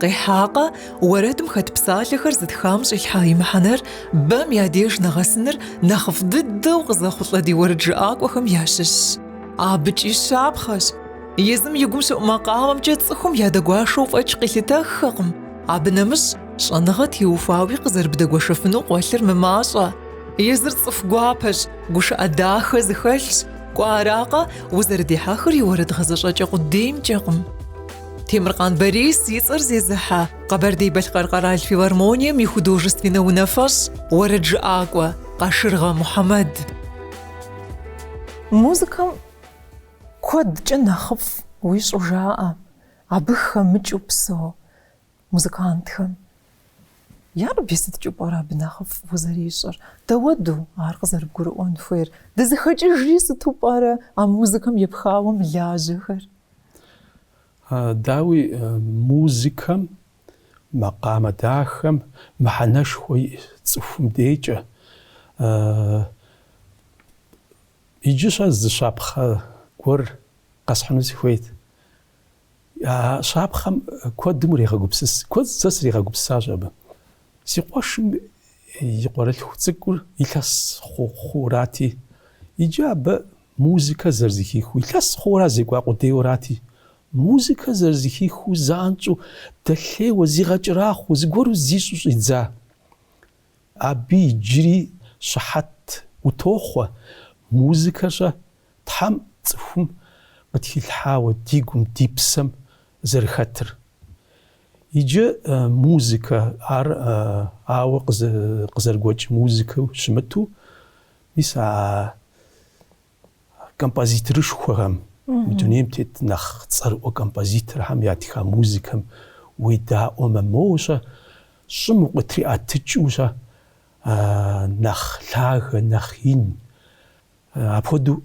Къихьакъэ, уэрэдым хэт псалъэхэр зытхам щӏилъхьа и мыхьэнэр бэм я деж нэгъэсыныр нэхъыфӏ дыдэу къызэхъулӏэ ди уэрэджыӏакӏуэхэм ящыщщ. Абыкӏи щапхъэщ. Езым и гум щыӏу макъамэмкӏэ цӏыхум ядэгуашэу фӏэкӏ къилъытэххэкъым, абы нэмыщӏ щӏэныгъэ теухуауи къызэрыбдэгуэшэфыну къуэлъыр мымащӏэ. Езыр цӏыху гуапэщ, гушыӏэ дахэ зыхэлъщ, кӏуэ аракъэ, узэрыдихьэхыр и уэрэд гъэзэщӏэкӏэ къудеймкӏэкъым. Темыркъан Борис и цӏэр зезыхьэ Къэбэрдей-Балъкъэр къэрал филармонием и художественнэ унафэщӏ, уэрэджыӏакӏуэ Къашыргъэ Мухьэмэд. Музыкэм куэдкӏэ нэхъыфӏ уищӏу жаӏэ абы хэмыкӏыу псэу музыкантхэм. Ярэби, сыткӏэу пӏэрэ абы нэхъыфӏ узэрищӏыр? Дауэду ар къызэрыбгурыӏуэн хуейр? Дызыхэкӏыжри сыту пӏэрэ а музыкэм епхауэ мылажьэхэр? Дауи, музыкэм, макъамэ дахэм мыхьэнэшхуэ иӏэ цӏыхум декӏэ. Иджы-щэ зы щапхъэ гуэр къэсхьыну сыхуейт. А щапхъэм куэдым урегъэгупсыс, куэд сэ сригъэгупсысащ абы. Си къуэшым и къуэрылъху цӏыкӏур илъэс хъу хъуурати, иджы абы Музыкэр зэрызэхихыу илъэс хъууэра зекӏуа къудейуэрати, музыкэр зэрызэхихыу занщӏэу дэлъейуэ, зигъэкӏэрахъуэу, зыгуэру зищӏу щӏидза. Абы иджыри щыхьэт утохъуэ, музыкэр-щэ, Тхьэм цӏыхум къытхилъхьауэ ди гум, ди псэм зэрыхэтыр. Иджы музыкэ, ар ауэ къызэрыгуэкӏ музыкэу щымыту, Мис а композиторышхуэхэм, мы дунейм тет нэхъ цӏэрыӏуэ композиторхэм ятха музыкэм уедаӏуэмэ, моуэ щэ щӏым укъытриӏэтыкӏыу щэ нэхъ лъагэ, нэхъ ин апхуэдэу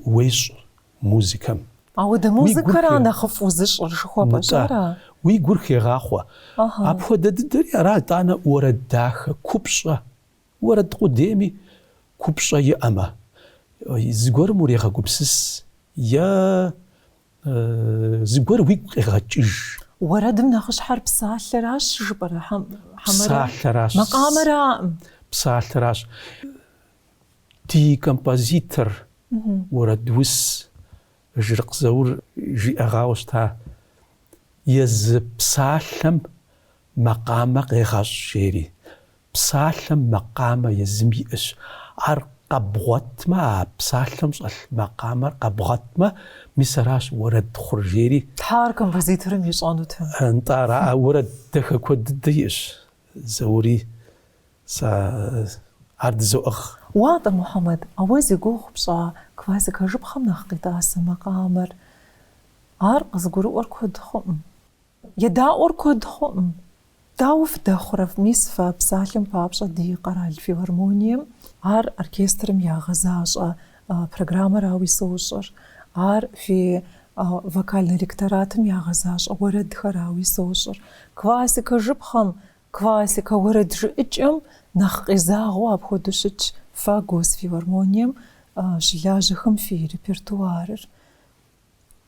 уещӏ музыкэм. Ауэдэ музыкэра нэхъыфӏ узыщӏыр жыхуэпӏэщ, ара? Уи гур хегъахъуэ. Апхуэдэ дыдэри ара, итӏанэ уэрэд дахэ, купщӏэ. Уэрэд къудейми купщӏэ иӏэмэ, зыгуэрым урегъэгупсыс е зыгуэр уигу къегъэкӏыж. Уэрэдым нэхъыщхьэр псалъэращ жыпӏэрэ хьэмэрэ? Псалъэращ. Макъамэра? Псалъэращ. Ди композитор, уэрэдус Жырыкъ Заур жиӏэгъауэ щыта, езы псалъэм Макъамэ къегъэщӏ, жери. Псалъэм макъамэ езым иӏэщ. Ар къэбгъуэтмэ, а псалъэм щӏэлъ макъамэр къэбгъуэтмэ, мис аращ уэрэд хъур, жери. Тхьэ, ар композиторым ищӏэнут. Нтӏэ, ара? А уэрэд дахэ куэд дыдэ иӏэщ Заури. Сэ ар дызоӏыгъ. Уатӏэ, Мухьэмэд, а уэ зи гугъу пщӏа классикэ жыпхъэм нэхъ къитӏасэ макъамэр? Ар къызыгурыӏуэр куэд хъуӏым. Едаӏуэр куэд хъуӏым. Дауэ фыдэхъурэ, мис фэ псалъэм папщӏэ ди къэрал филармонием ар оркестрым ягъэзащӏэ программэрауи сощӏыр, ар фи вокальнэ ректоратым ягъэзащӏэ уэрэдхэрауи сощӏыр. Классикэ жыпхъэм, классикэ уэрэд жыӏыкӏэм нэхъ къезагъэу апхуэдэу щытщ фэ Госфилармонием щылажьэхэм фи репертуарыр.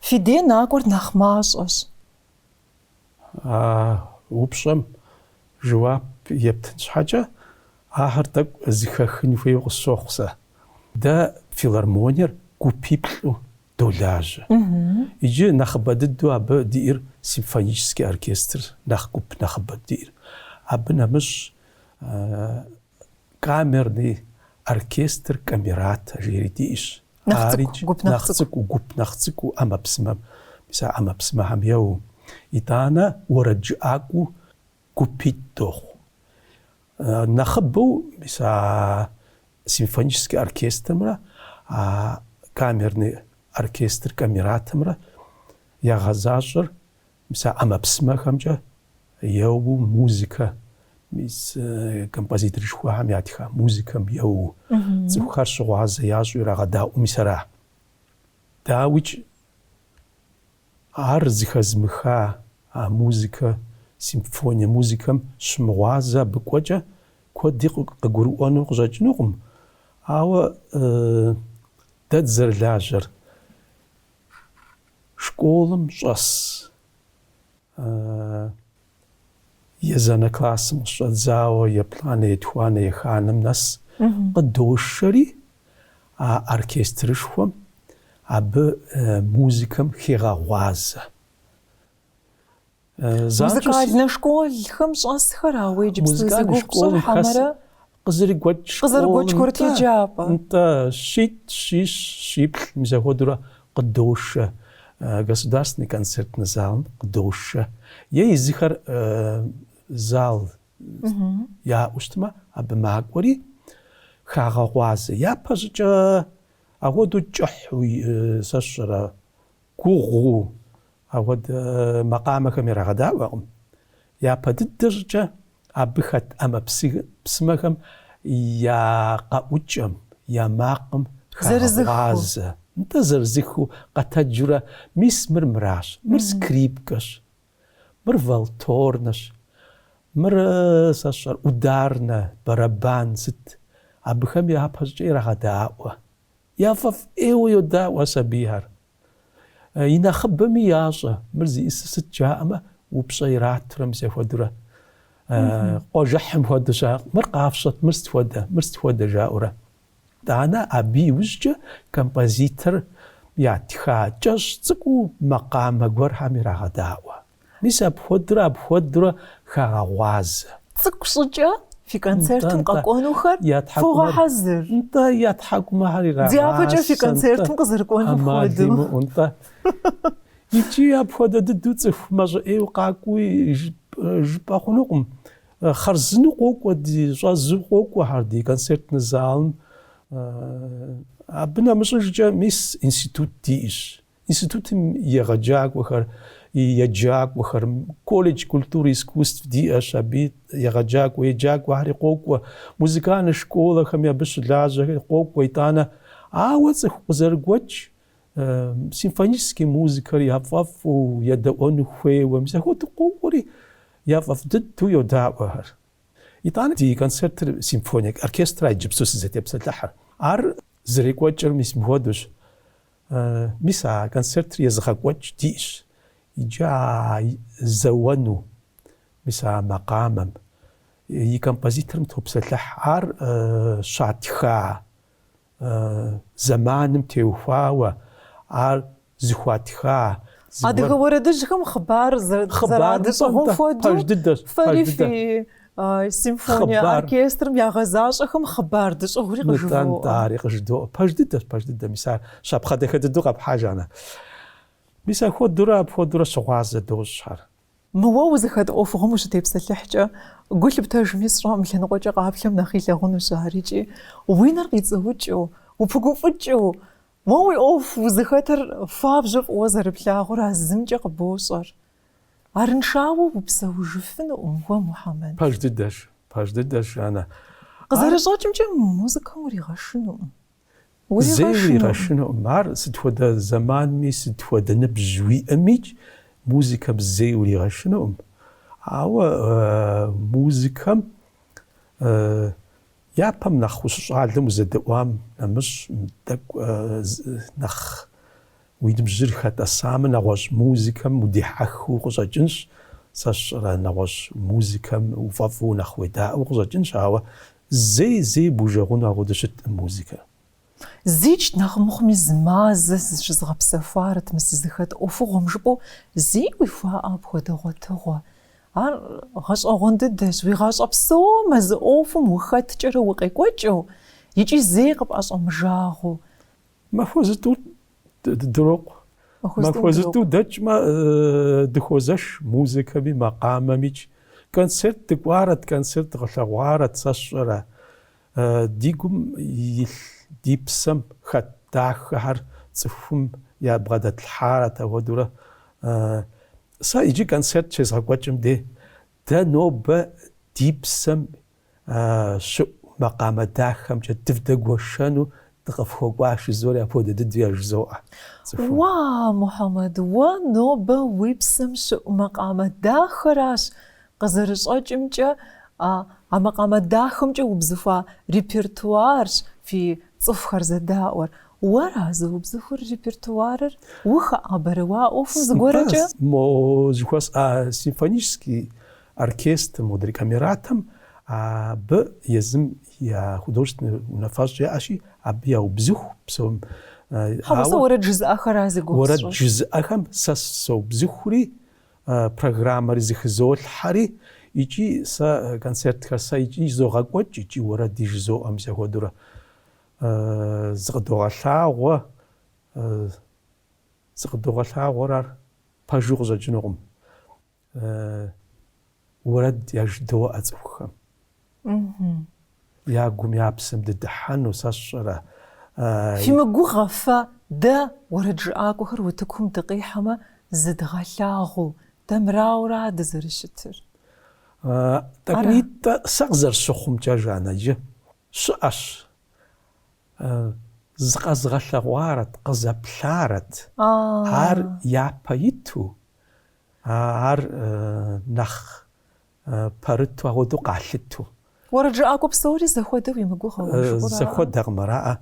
Фи дей накӏуэр нэхъ мащӏэщ. А упщӏэм жэуап ептын щхьэкӏэ, ахэр тӏэкӏу зыхэхын хуейуэ къысщохъу сэ. Дэ филармониер гупиплӏу долажьэ. Иджы нэхъыбэ дыдэу абы диӏэр симфонический оркестр, нэхъ гуп нэхъыбэ диӏэр. Абы нэмыщӏ, Камерный оркестр камерата жери диӏэщ. Ари нэхъ цӏыкӏу гуп, нэхъ цӏыкӏуу ӏэмэпсымэм, мис а ӏэмэпсымэхэм еуэу. Итӏанэ уэрэджыӏакӏуэу гупитӏ дохъу. Нэхъыбэу мис а симфоническэ оркестрымрэ а камерный оркестр камератэмрэ ягъэзащӏэр Мис а ӏэмэпсымэхэмкӏэ еуэу музыкэ, мис композиторышхуэхэм ятха музыкэм еуэу цӏыхухэр щыгъуазэ ящӏу ирагъэдаӏуэу мис ара? Дауикӏ, ар зыхэзмыха а музыкэ, симфоние музыкэм щымыгъуазэ абы кӏуэкӏэ куэди къыгурыӏуэну къыщӏэкӏынукъым, ауэ дэ дызэрылажьэр, Школым щӏэс езанэ классым къыщӏэдзауэ еплӏанэ, етхуанэ, еханым нэс къыдошэри а оркестрышхуэм, абы музыкэм хегъэгъуазэ. Музыкальнэ школхэм щӏэсхэра уэ иджыпсту зи гугъу пщӏыр хьэмэрэ? Къызэрыгуэкӏ Къызэрыгуэкӏ курыт еджапӏэ. Нтӏэ, щитӏ, щищ, щиплӏ, мис апхуэдэурэ къыдошэ государственный концертный залым къыдошэ. Е езыхэр зал яӏэу щытмэ, абы макӏуэри хагъэгъуазэ. Япэщӏыкӏэ апхуэдэу кӏыхьу сэ сщӏэрэ Гугъуу ахуэдэ макъамэхэм ирагъэдаӏуэкъым. Япэ дыдэ щӏыкӏэ абы хэт ӏэмэпсымэхэм я къэӏукӏэм, я макъым хагъэгъуазэ, нтӏэ, зырызыххэу къэтэджурэ, мис мыр мыращ, мыр скрипкэщ, мыр валторнэщ, мыр, сэ сщӏэр, ударнэ, бэрэбан сыт, абыхэм япэ щӏыкӏэ ирагъэдаӏуэ. Яфӏэфӏ ӏейуэ йодаӏуэ а сабийхэр. И нэхъыбэми ящӏэ, мыр зиӏысыр сыт жаӏэмэ, упщӏэ иратурэ мис ахуэдурэ. Къуажэхьым хуэдэщ ар, мыр къафщӏэт, мыр сыт хуэдэ, мыр сыт хуэдэ жаӏэурэ. Итӏанэ абы иужькӏэ композитор ятха кӏэщӏ цӏыкӏуу макъамэ гуэрхэм ирагъэдаӏуэ. Мис апхуэдурэ апхуэдурэ хагъэгъуазэ. Цӏыкӏу щӏыкӏэ фи концертым къэкӏуэнухэр фогъэхьэзыр. Нтӏэ, я тхьэкӏумэхэр ирагъасэ. Дяпэкӏэ фи концертым къызэрыкӏуэнум хуэдэу. Ӏэмал имыӏэу, нтӏэ. Иджы апхуэдэ дыдэу цӏыху мащӏэ ӏейуэ къакӏуи жыпӏэ хъунукъым. Хъарзынэу къокӏуэ, ди щӏэзу къокӏуэхэр ди концертнэ залым. Абы нэмыщӏыжкӏэ мис институт диӏэщ. Институтым егъэджакӏуэхэр, еджакӏуэхэр, колледж культуры и искусств диӏэщ, абы егъэджакӏуэ еджакӏуэхэри къокӏуэ, музыкальнэ школэхэми абы щылажьэхэри къокӏуэ, итӏанэ. Ауэ цӏыху къызэрыгуэкӏ симфонический музыкэр яфӏэфӏу едэӏуэну хуейуэ, мис апхуэдэу къокӏуэри яфӏэфӏ дыдэу йодаӏуэ ахэр. Итӏанэ ди концертыр симфоние оркестрат иджыпсту сызытепсэлъыхьыр. Ар зэрекӏуэкӏыр мис мыпхуэдэущ. Мис а концертыр езыгъэкӏуэкӏ диӏщ иджы а зэуэну, мис а макъамэм и композиторым топсэлъыхь. Ар щатха зэманым теухуауэ, ар зыхуатха. Адыгэ уэрэдыжьхэм хъыбар зэрадыщӏыгъум хуэдэу, фэри фи Симфония оркестрым ягъэзащӏэхэм хъыбар дыщӏыгъури къыжывоӏэ. Нтӏэ, дэри къыжыдоӏэ. Пэж дыдэщ, пэж дыдэ, мис ар щапхъэ дахэ дыдэу къэпхьа, Жаннэ. Мис ахуэдурэ, апхуэдурэ щыгъуазэ дощӏ ар. Мы уэ узыхэт ӏуэхугъуэм ущытепсэлъыхькӏэ, гу лъыптэжми сщӏэкъым, лъэныкъуэкӏэ къаплъэм нэхъ илъагъунущ ар икӏи. Уи нэр къицӏыукӏыу, упыгуфӏыкӏыу, мы уи ӏуэху узыхэтыр фабжьу фӏыуэ зэрыплъагъур а зымкӏэ къыбощӏэр. Арыншауэ упсэужыфынукъым уэ, Мухьэмэд. Пэж дыдэщ, пэж дыдэщ, Жаннэ. Къызэрыщӏэкӏымкӏэ, мы музыкэм уригъэшынукъым. Зэи уригъэшынукъым. Ар сыт хуэдэ зэманми, сыт хуэдэ ныбжь уиӏэмикӏ, музыкэм зэи уригъэшынукъым. Ауэ музыкэм япэм нэхъ ущыщӏалэм узэдэӏуам нэмыщӏ, мыдэкӏэ нэхъ Уи ныбжьыр хэтӏэсамэ, нэгъуэщӏ музыкэм удихьэхыу укъыщӏэкӏынщ. Сэ сщӏэрэ, нэгъуэщӏ музыкэм уфӏэфӏу нэхъ уедаӏэу укъыщӏэкӏынщ, ауэ зэи, зэи бужэгъуну апхуэдэу щыткъым музыкэр. Зикӏ нэхъ мыхъуми зы мазэ зыщызгъэпсэхуарэт мы сызыхэт ӏуэхугъуэм, жыпӏэу зэи уихуаӏэ апхуэдэ гъуэтыгъуэ. Ар гъэщӏэгъуэн дыдэщ, уи гъащӏэ псом а зы ӏуэхум ухэткӏэрэ укъекӏуэкӏыу икӏи зэи къыпӏэщӏэмыужагъуэу. Махуэ зытӏу дырокъу. Махуэ зытӏу дэкӏмэ, дыхуозэш музыкэми, макъамэмикӏ. Концерт дыкӏуарэт, концерт дгъэлъэгъуарэт, сэ сщӏэрэ. Ди гум илъ, ди псэм хэт дахэхэр цӏыхум ябгъэдэтлъхьарэт, апхуэдэурэ сэ иджы концерт щезгъэкӏуэкӏым дей, дэ нобэ ди псэм щыӏу макъамэ дахэмкӏэ дывдэгуэшэну дыкъыфхуэкӏуащ, жызоӏэри апхуэдэ дыдэу яжызоӏэ. Уа, Мухьэмэд, уэ нобэ уи псэм щыӏу макъамэ дахэращ, къызэрыщӏэкӏымкӏэ, а макъамэ дахэмкӏэ убзыхуа репертуарщ фи цӏыхухэр зэдаӏуэр. Уэра зыубзыхур репертуарыр? Ухэӏэбэрэ уэ а ӏуэхум зыгуэркӏэ? Мо зыхуэсӏа симфонический Оркестр модрей Камератэм абы езым я художественнэ унафэщӏ яӏэщи, абы яубзыху псом. Хьэуэ, сэ уэрэд жызыӏэхэра зи гугъу сщӏыр? Уэрэд жызыӏэхэм сэ соубзыхури, программэри зэхызолъхьэри икӏи сэ концертхэр сэ икӏи изогъэкӏуэкӏ икӏи уэрэди жызоӏэ мис апхуэдэурэ. Зыкъыдогъэлъагъуэ, зыкъыдогъэлъагъуэр, ар пэжу къыщӏэкӏынукъым. уэрэд яжыдоӏэ цӏыхухэм. Я гум, я псэм дыдыхьэну сэ сщӏэрэ? Фимыгугъэ фэ, дэ уэрэджыӏакӏуэхэр утыкум дыкъихьэмэ, зыдгъэлъагъуу, дэ мырауэрэ дызэрыщытыр? Тӏэкӏунитӏэ сэ къызэрысщыхъумкӏэ, Жаннэ, иджы Щыӏэщ. Зыкъэзыгъэлъэгъуарэт, къызэплъарэт. Ар япэ иту, ар нэхъ пэрыту агъуэдэу къалъыту. Уэрэджыӏакӏуэ псори зэхуэдэу уимыгугъэ уэ жыӏурэ? Зэхуэдэкъым ара?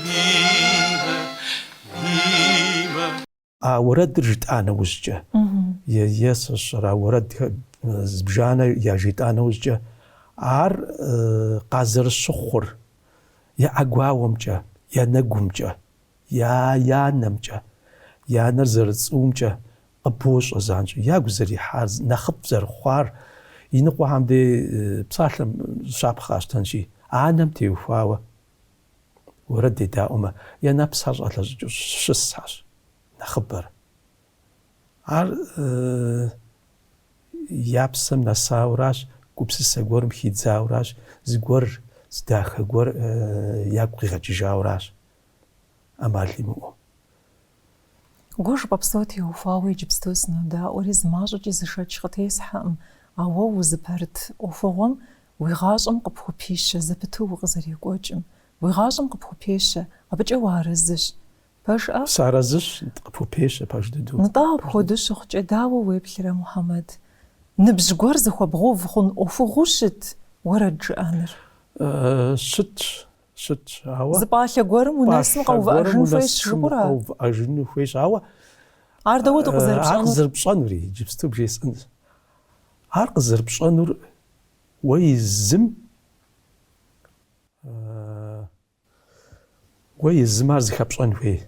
А уэрэдыр жытӏа нэужькӏэ, е-е-сыщӏыр, а уэрэд зыбжанэ яжетӏа нэужькӏэ, ар къазэрыщыхъур я ӏэгуауэмкӏэ, я нэгумкӏэ, я нэмкӏэ, я нэр зэрыцӏуумкӏэ къыбощӏэ занщӏэу, ягу зэрихьар, нэхъыфӏ зэрыхъуар, иныкъуэхэм дей псалъэм щапхъэ къэсщтэнщи, анэм теухуауэ Уэрэд дедаӏуэмэ, я нэпсхэр щӏалъэщӏыкӏыу щысхэщ нэхъыбэр. Ар я псэм нэсауращ, гупсысэ гуэрым хидзауращ, зыгуэр зы дахэ гуэр ягу къигъэкӏыжауращ, ӏэмал имыӏэу. Уэ жыпӏэ псом теухуауэ иджыпсту сынодаӏуэри, зымащӏэкӏи зы шэч къытесхьэкъым, ауэ узыпэрыт ӏуэхугъуэм уи гъащӏэм къыпхупищэ зэпыту укъызэрекӏуэкӏым. Уи гъащӏэм къыпхупещэ, абыкӏэ уарэзыщ. Пэжӏэ? Сарэзыщ, нтӏ, къыпхупещэ, пэж дыдэу. Нтӏэ, апхуэдэу щыхъукӏэ, дауэ уеплърэ, Мухьэмэд? Ныбжь гуэр зыхуэбгъув хъун ӏуэхугъуэу щыт уэрэд жыӏэныр? Щытщ. щытщ, ауэ. Зы пӏалъэ гуэрым унэсым къэувыӏэжын хуейщ жыпӏэурэ? Къэувыӏэжыну хуейщ, ауэ. Ар дауэ тӏэ къызэрыпщӏэнур? Ар къызэрыпщӏэнури иджыпсту бжесӏэнщ. Ар къызэрыпщӏэнур уэ езым уэ езым ар зыхэпщӏэн хуей.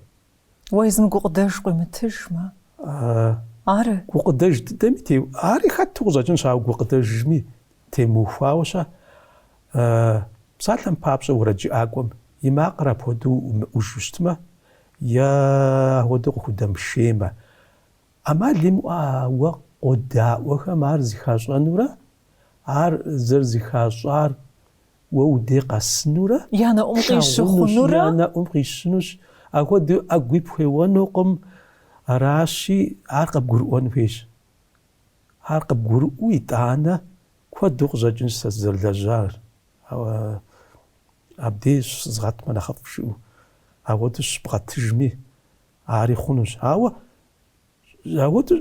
Уэ езым гукъыдэж къуимытыжмэ. Ары. Гукъыдэж дыдэми те, ари хэту къыщӏэкӏынщ, ауэ гукъыдэжми темыухуауэ ща. Псалъэм папщӏэ, уэрэджыӏакӏуэм и макъыр апхуэдэу мыӏужу щытмэ, е апхуэдэу къыхудэмышеймэ, ӏэмал имыӏэу а уэ къодаӏуэхэм ар зыхащӏэнурэ ар зэрызыхащӏар Уэ удей къэсынурэ, Я нэӏум къищыхъунурэ, я нэӏум къищынущ. Апхуэдэу ӏэгу пхуеуэнукъым. Аращи, ар къыбгурыӏуэн хуейщ. Ар къыбгурыӏуэу, итӏанэ, куэду къыщӏэкӏынщ сэ сызэрылэжьар. Ауэ абдей щызгъэтмэ нэхъыфӏ жыӏэу. Апхуэдэу щыбгъэтыжми, ари хъунущ. Ауэ Ахуэдэу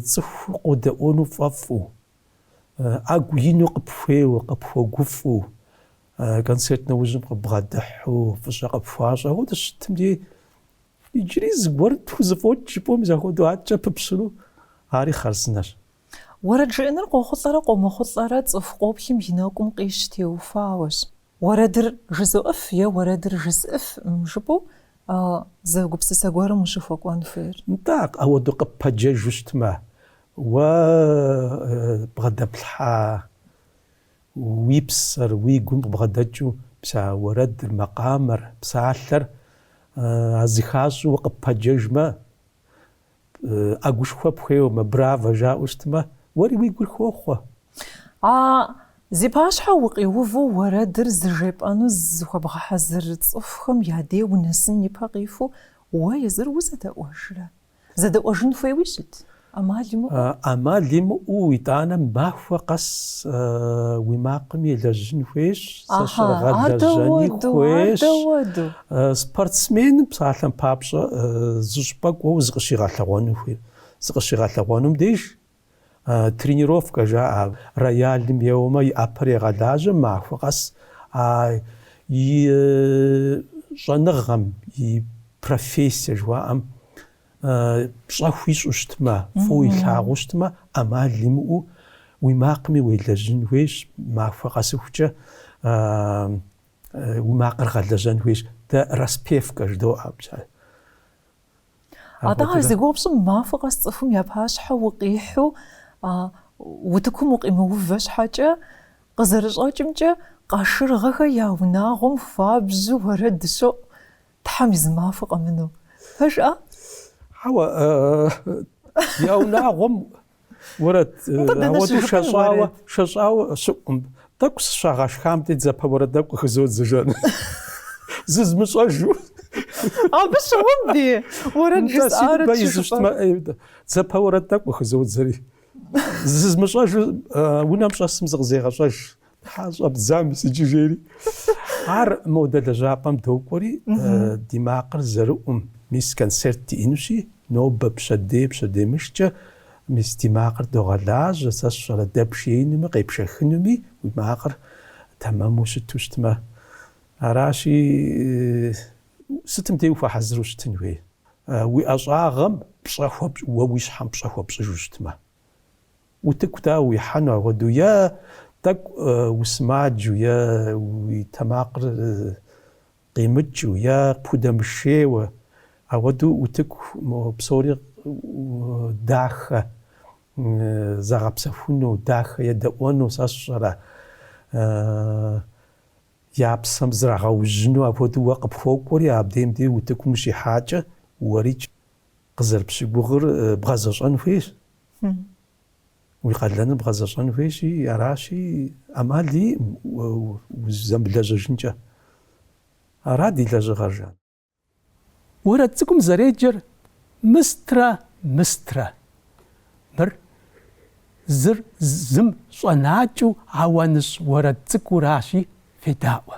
цӏыху къодэӏуэну фӏэфӏу, ӏэгу ину къыпхуеуэу, къыпхуэгуфӏу, концерт нэужьым къыббгъэдыхьу, фӏыщӏэ къыпхуащӏу, ахуэдэу щытым дей иджыри зыгуэр тхузэфӏокӏ жыпӏэу мис ахуэдэу адэкӏэ пыпщэну ари хъарзынэщ. Уэрэд жыӏэныр къохъулӏэрэ къомыхъулӏэрэ цӏыху къоплъым и нэкӏум къищ теухуауэщ. Уэрэдыр жызоӏыф е уэрэдыр жысӏыфкъым жыпӏэу зы гупсысэ гуэрым ущыхуэкӏуэн хуейр. Нтӏэ, ауэду къыппэджэжу щытмэ, уэ бгъэдэплъхьа уи псэр, уи гум къыбгъэдэкӏыу пса уэрэдыр, макъамэр, псалъэр, а зыхащӏэу уэ къыппэджэжмэ, ӏэгушхуэ пхуеуэмэ, браво жаӏэу щытмэ, уэри уи гур хохъуэ. А зи пащхьэ укъиувэу уэрэдыр зыжепӏэну зыхуэбгъэхьэзыр цӏыхухэм я дей унэсын ипэ къихуэу уэ езыр узэдэӏуэжрэ? Зэдэӏуэжын хуейуи щыт? ӏэмал имыӏэу? ӏэмал имыӏэу итӏанэ махуэ къэс уи макъым елэжьын хуейщ, сэ сщӏэрэ, гъэлэжьэни хуейщ. Ар дэ уэду, ар дэ уэду. Спортсменым псалъэм папщӏэ зы щӏыпӏэ кӏуэуэ зыкъыщигъэлъэгъуэну хуейр. Зыкъыщигъэлъэгъуэнум деж тренировкэ жаӏэ. Роялым еуэмэ, и ӏэпэр егъэлажьэ махуэ къэс а и щӏэныгъэм, и профессие жыхуаӏэм пщӏэ хуищӏу щытмэ, фӏыуэ илъагъуу щытмэ, ӏэмал имыӏэу уи макъыми уелэжьын хуейщ махуэ къэсыхукӏэ. Уи макъыр гъэлэжьэн хуейщ. Дэ распевкэ жыдоӏэ абыкӏэ. Атӏэ ар зи гугъу пщӏым махуэ къэс цӏыхум я пащхьэ укъихьэу утыкум укъимыувэ щхьэкӏэ, къызэрыщӏэкӏымкӏэ, Къашыргъэхэ я унагъуэм хуабжьу уэрэд щоӏу Тхьэм и зы махуэ къэмынэу. Пэжа? Хьэуэ, я унагъуэм Уэрэд ауэдэу шэщӏауэ, шэщӏауэ щыӏум, тӏэкӏу сыщагъэшхам дей, дзэпэ уэрэд тӏэкӏу къыхызодзэ, жан, зызмыщӏэжу. Абы щыгъуэм ди уэрэд жысӏарэ тщыщӏыпӏэ. Дзэпэ уэрэд тӏэкӏу къыхызодзэри, зызмыщӏэжу унэм щӏэсым зыкъызегъэщӏэж. Щхьэ щӏэбдза мис иджы жери. Ар модэ лэжьапӏэм докӏуэри, ди макъыр зэрыӏум, мис концерт диӏэнущи, нобэ пщэдей, пщэдеймыщкӏэ, мис ди макъыр догъэлажьэ, сэ сщӏэрэ, дэпшеинуми, къепшэхынуми, уи макъыр тэмэму щыту щытмэ. Аращи, сытым дей ухуэхьэзыру щытын хуей? Уи ӏэщӏагъэм пщӏэ хуэпщӏ, уэ уи щхьэм пщӏэ хуэпщӏыжу щытмэ. Утыку дауэ уихьэну апхуэдэу, е тӏэкӏу усымаджэу, е уи тэмакъыр къимыкӏыу, е пхудэмышейуэ, апхуэдэу утыку псори дахэ загъэпсэхуну, дахэ едэӏуэну сэ сщӏэрэ? Я псэм зрагъэужьыну апхуэдэу уэ къыпхуокӏуэри, абдейм деж утыкум ущихьакӏэ, уэрикӏ. Къызэрыпщыгугъыр бгъэзэщӏэн хуейщ. Уи къалэныр бгъэзэщӏэн хуейщи, аращи, ӏэмал иӏым узэмылэжьэжынкӏэ. Ара ди лэжьыгъэр, жан? Уэрэд цӏыкӏум зэреджэр мыстрэ мыстрэ. Мыр зыр зым щӏэнакӏэу ауаныщӏ уэрэд цӏыкӏуращи, федаӏуэ.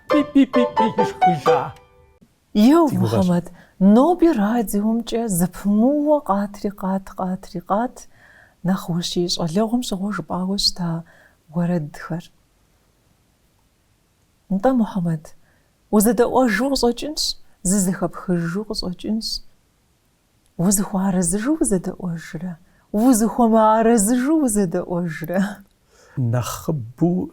Пи-пи-пи-пи ишхыжа. Еу, Мухьэмэд, ноби радиомкӏэ зэпымыууэ къатри къат, къатри къат нэхъ ущи щӏалэгъуэм щыгъуэ жыпӏауэ щыта уэрэдхэр. Нтӏэ, Мухьэмэд, узэдэӏуэжу къыщӏэкӏынщ, зызэхэпхыжу къыщӏэкӏынщ. Узыхуэарэзыжу узэдэӏуэжрэ, узыхуэмыарэзыжу узэдэӏуэжрэ. Нэхъыбэу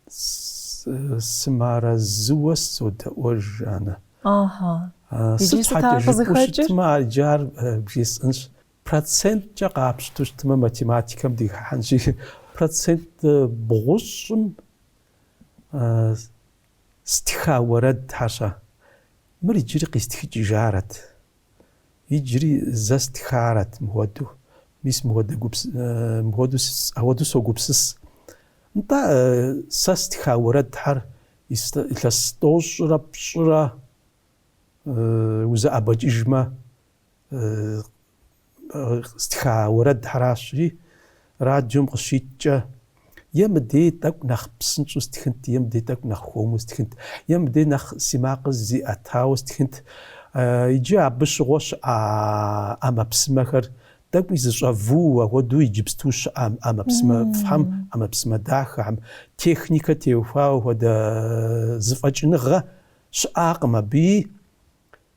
Сымыарэзыуэ сызодэӏуэж, Жаннэ. Ага. Сыт щхьэкӏэ жыпӏэу щытмэ, иджы ар бжесӏэнщ. Проценткӏэ къапщту щытмэ, математикэм дыхыхьэнщи, процент бгъущӏым стха уэрэдхэ-щэ. Мыр иджыри къистхыкӏыжарэт. Иджыри зэ стхарэт мыхуэдэу. Мис мыхуэдэ гупс... мыхуэдэу ахуэдэу согупсыс. Нтӏэ, сэ стха уэрэдхэр илъэс тӏощӏрэ пщӏырэ узэӏэбэкӏыжмэ стха уэрэдхэращри, Радиом къыщиткӏэ, е мыдей тӏэкӏу нэхъ псынщӏэу стхынт, е мыдей тӏэкӏу нэхъ хуэму стхынт, е мыдей нэхъ си макъыр зиӏэтауэ стхынт. Иджы абы щыгъуэ щыӏа ӏэмэпсымэхэр тӏэкӏуи зыщӏэвууэ, ахуэдэу иджыпсту щыӏэ ӏэмэпсымэфӏхэм, ӏэмэпсымэ дахэхэм, техникэ теухуауэ хуэдэ зэфӏэкӏыныгъэ щыӏакъым абыи.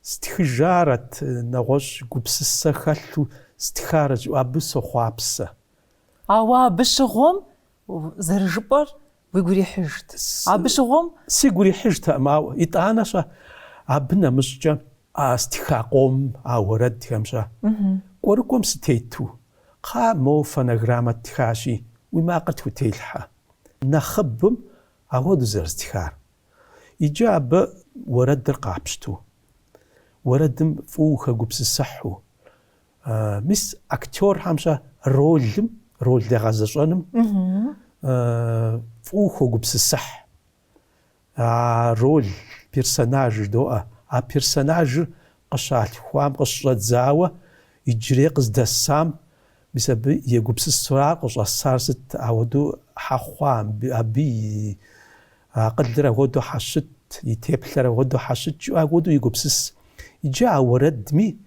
Стхыжарэт, нэгъуэщӏ гупсысэ хэлъу стхарэт жысӏэу абы сохъуапсэ. Ауэ абы щыгъуэм, зэрыжыпӏэр, уигу ирихьыжт. Абы щыгъуэм. Сигу ирихьыжтэкъым, ауэ, итӏанэ-щэ, абы нэмыщӏкӏэ а стха къомым а уэрэдхэм-щэ, кӏуэрыкӏуэм сытету, кхъа, моуэ фонограммэ ттхащи, уи макъыр тхутелъхьэ, нэхъыбым, ахуэдэу зэрыстхар. Иджы абы уэрэдыр къапщту, уэрэдым фӏыуэ ухэгупсысыхьу, мис актерхэм-щэ ролым, рол дегъэзэщӏэным фӏыуэ ухэгупсысыхь. А рол, персонаж жыдоӏэ. А персонажыр къыщалъхуам, къыщыщӏэдзауэ иджырей къыздэсам, мис абы егупсысурэ къыщӏэсар сыт, ауэдэу хьэ хъуа абы и Акъылыр ахуэдэу хьэ щыт, и теплъэр ахуэдэу хьэ щыт жыӏэу ахуэдэу егупсыс. Иджы а уэрэдми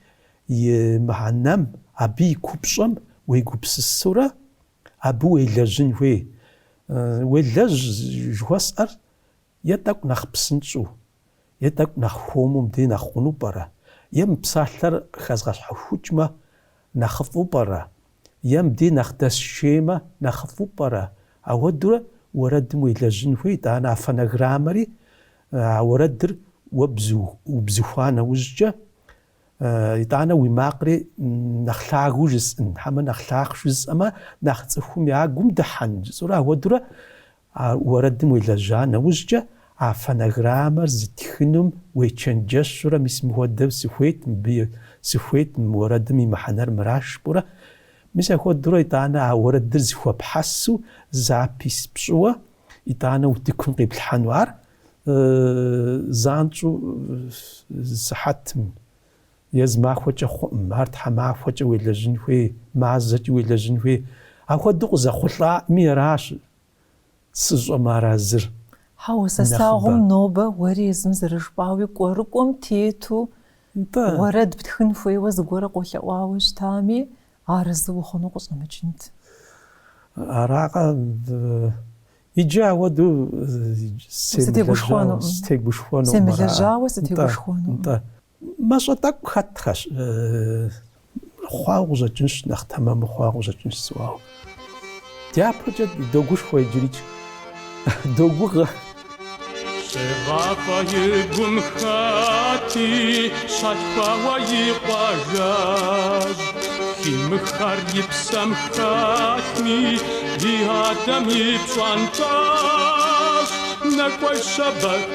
и мыхьэнэм, абы и купщӏэм уегупсысурэ абы уелэжьын хуей. Уелэжь жыхуэсӏэр е тӏэкӏу нэхъ псынщӏэу, Е тӏэкӏу нэхъ хуэму мыбдей нэхъ хъуну пӏэрэ? Е мы псалъэр хэзгъэщхьэхукӏмэ, нэхъыфӏу пӏэрэ? Е мыбдей нэхъ дэсшеймэ, нэхъыфӏу пӏэрэ? Ауэдурэ уэрэдым уелэжьын хуей, итӏанэ а фонограммэри а уэрэдыр уубзыхуа нэужькӏэ, итӏанэ уи макъри нэхъ лъагэу жысӏын, хьэмэ нэхъ лъахъ жысӏэмэ, нэхъ цӏыхум я гум дыхьэн жысӏэурэ, ауэдурэ А уэрэдым уелэжьа нэужькӏэ, а фонограммэр зытхынум уечэнджэщурэ, мис мыхуэдэу сыхуейт, мыбы сыхуейт, мы уэрэдым и мыхьэнэр мыращ жыпӏэурэ, мис ахуэдурэ итӏанэ а уэрэдыр зэхуэпхьэсу запись пщӏыуэ, итӏанэ утыкум къиплъхьэну ар, занщӏэу зы сыхьэтым Е зы махуэкӏэ хъуӏым, ар тхьэмахуэкӏэ уелэжьын хуей, мазэкӏи уелэжьын хуей. Апхуэдэу къызэхъулӏаӏми аращ сыщӏэмыарэзыр. Хьэуэ, сэ слъагъум нобэ уэри езым зэрыжыпӏауи кӏуэрыкӏуэм тету уэрэд птхын хуейуэ зыгуэрэ къолъэӏуауэ щытами, арэзы ухъуну къыщӏэмыкӏынт. Аракъэ, иджы ауэду сытегушхуэнукъым. Семылэжьауэ сытегушхуэнукъым. Мащӏэ тӏэкӏу хэтхэщ. Хъуауэ къыщӏэкӏынщ, нэхъ тэмэму хъуауэ къыщӏэкӏынщ сыӏуауэ. Дяпэкӏэ догушхуэ иджырикӏ. Догугъэ. Щегъафӏэ и гум хэти щалъхуауэ и къуажэжь. Химыххэр и псэм хэтми, и адэм и пщӏантӏэжь. Нэкӏуэщэ бэкӏ.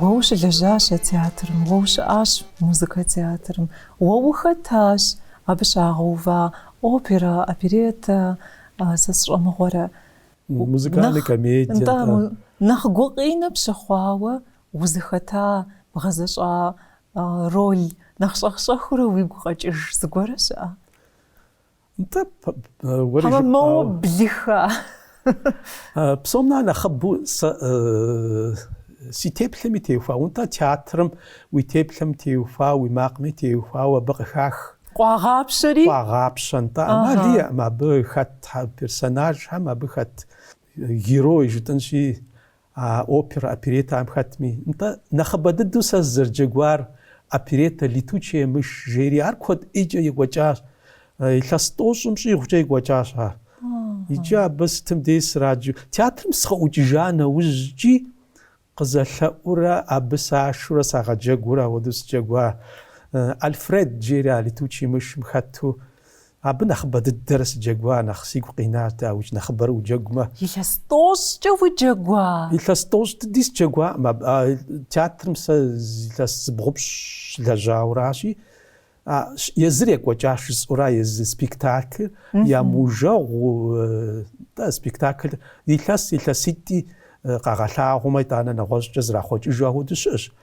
Уэ ущылэжьащ а театрым, уэ ущыӏащ музыкэ театрым, уэ ухэтащ абы щагъэува опера, опереттэ, сэ сщӏэмыгъуэрэ. Музыкальнэ комедие. Нтӏэ, нэхъ гукъинэ пщыхъуауэ узыхэта, бгъэзэщӏа роль нэхъ щӏэх-щӏэхыурэ уигу къэкӏыж зыгуэрэ щыӏэ? Нтӏэ, уэри жыпӏауэ. Хьэмэ моуэ блыха? Псом нэхъ нэхъыбэу сэ си теплъэми теухуауэ, нтӏэ театрым уи теплъэм теухуауэ, уи макъми теухуауэ абы къыхах. Къуагъапщэри? Къуагъапщэ, нтӏэ. Амал иӏэкъым абы хэт персонажхэм, абы хэт герой жытӏэнщи, А опера, опереттахэм хэтми, нтӏэ, нэхъыбэ дыдэу сэ сызэрыджэгуар оперетта Летучая мышь жери, ар куэд ӏейкӏэ екӏуэкӏащ, илъэс тӏощӏым щӏигъукӏэ екӏуэкӏащ ар. Иджы абы сытым дей сраджэу, театрым сыкъыӏукӏыжа нэужькӏи къызэлъэӏурэ абы сашурэ сагъэджэгуурэ, ауэдэу сыджэгуар. Альфред жери а Летучий мышым хэту Абы нэхъыбэ дыдэрэ сыджэгуа, нэхъ сигу къинар дауикӏ, нэхъыбэрэ уджэгумэ. Илъэс тӏощӏкӏэ уджэгуа? Илъэс тӏощӏ дыди сыджэгуаӏым. Аб, а, театрым сэ илъэс зыбгъупщӏ щылэжьауращи, а, езыр екӏуэкӏащ, жысӏэура, езы спектаклыр ямыужэгъу, тӏэ, спектаклыр илъэс, илъэситӏи къагъэлъагъумэ, итӏанэ нэгъуэщӏкӏэ зрахъуэкӏыжу ахуэдэу щыӏэщ.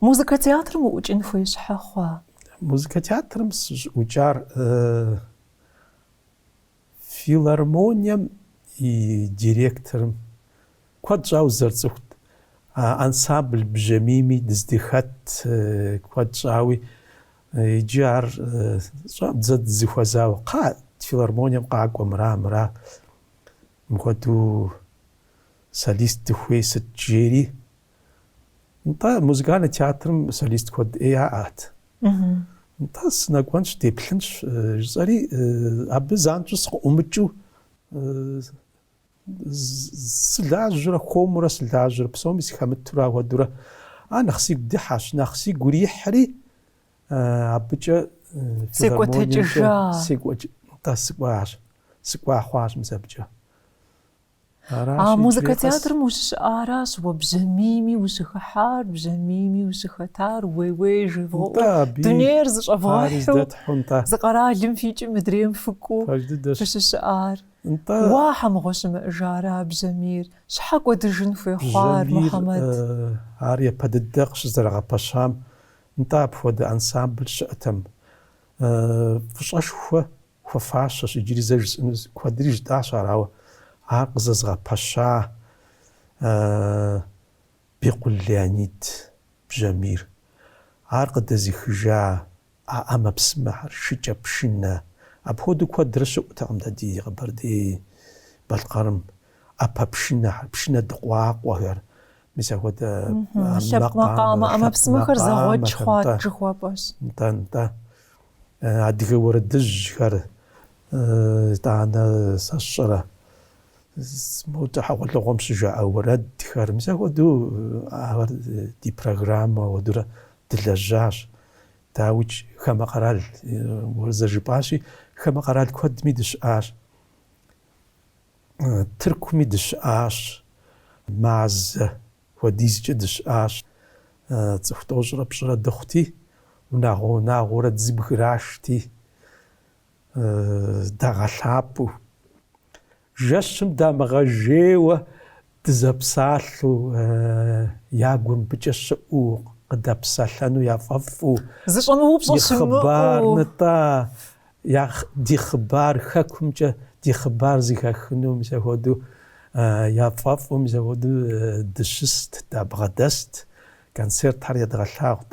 Музыкэ театрым уӏукӏын хуей щхьэ хъуа? Музыкэ театрым сыщӏыӏукӏар филармонием и директорым куэд щӏауэ зэрыцӏыхут, ансамбль бжьамийми дыздыхэт куэд щӏауи, иджы ар щӏэ, зэ дызэхуэзауэ, кхъа, филармонием къакӏуэ мыра, мыра, мыхуэдэу солист дыхуей сыт жери. Нтӏэ, музыкальный театрым солист куэд ӏей яӏэт. Нтӏэ, сынэкӏуэнщ, деплъынщ, жысӏэри, абы занщӏэу сыкъыӏумыкӏыу, сылажьэурэ, хуэмурэ сылажьэурэ, псоми сыхэмытурэ ахуэдэурэ, ар нэхъ сигу дыхьэщ, нэхъ сигу ирихьри, абыкӏэ филармониемкӏэ секӏуэкӏ, нтӏэ, сыкӏуащ, сыкӏуа хъуащ мис абыкӏэ. А музыкэ театрым ущыщыӏаращ уэ бжьамийми ущыхыхьар, бжьамийми ущыхэтар, уей-уей жевгъэӏэу, дунейр зыщӏэвгъэхьу, зы къэралым фикӏым мыдрейм фыкӏуэу фыщыщыӏар. Уа, щхьэ мыгъуэ щымыӏэжрэ а бжьамийр? Щхьэ кӏуэдыжын хуей хъуар, Мухьэмэд? Бжьамийр ар япэ дыдэ къыщызэрагъэпэщам, нтӏэ апхуэдэ ансамбль щыӏэтэм. Фӏыщӏэшхуэ Хуэфащэщ иджыри зэ жысӏэну куэдри жытӏащ ар, ауэ ар къызэзыгъэпэща Бекъул Леонид бжьамийр, ар къыдэзыхыжа а ӏэмэпсымэхэр, шыкӏэпшынэ, апхуэдэу куэдрэ щыӏутэкъым дэ ди Къэбэрдей-Балъкъэрым, ӏэпэпшынэхэр, пшынэ дыкъуакъуэхэр, мис ахуэдэ ӏэмэпсымэхэр, лъэпкъ макъамэ ӏэмэпсымэхэр зэгъуэкӏ хъуат жыхуэпӏэщ. Нтӏэ, нтӏэ. Адыгэ уэрэдыжьхэр, итӏанэ сэ сщӏэрэ модэ хьэгъуэлӏыгъуэм щыжаӏэ уэрэдхэр, мис ахуэдэу ахэр ди программэ ахуэдурэ дылэжьащ. Дауикӏ, хамэ къэрал уэ зэрыжыпӏащи, хамэ къэрал куэдми дыщыӏащ. Тыркуми дыщыӏащ, мазэ. Хуэдизкӏэ дыщыӏащ. Цӏыху тӏощӏрэ пщӏырэ дыхъути, унагъуэ-унагъуэурэ дызэбграшти, дагъэлъапӏэу. Жэщым дамыгъэжейуэ дызэпсалъэу, я гур мыбыкӏэ щыӏэу, къыдэпсэлъэну яфӏэфӏу, и хъыбар нытӏа, Я ди хъыбар хэкумкӏэ ди хъыбар зыхахыну мис апхуэдэу яфӏэфӏу, мис апхуэдэу дыщыст, дабгъэдэст, концертхэр едгъэлъагъут.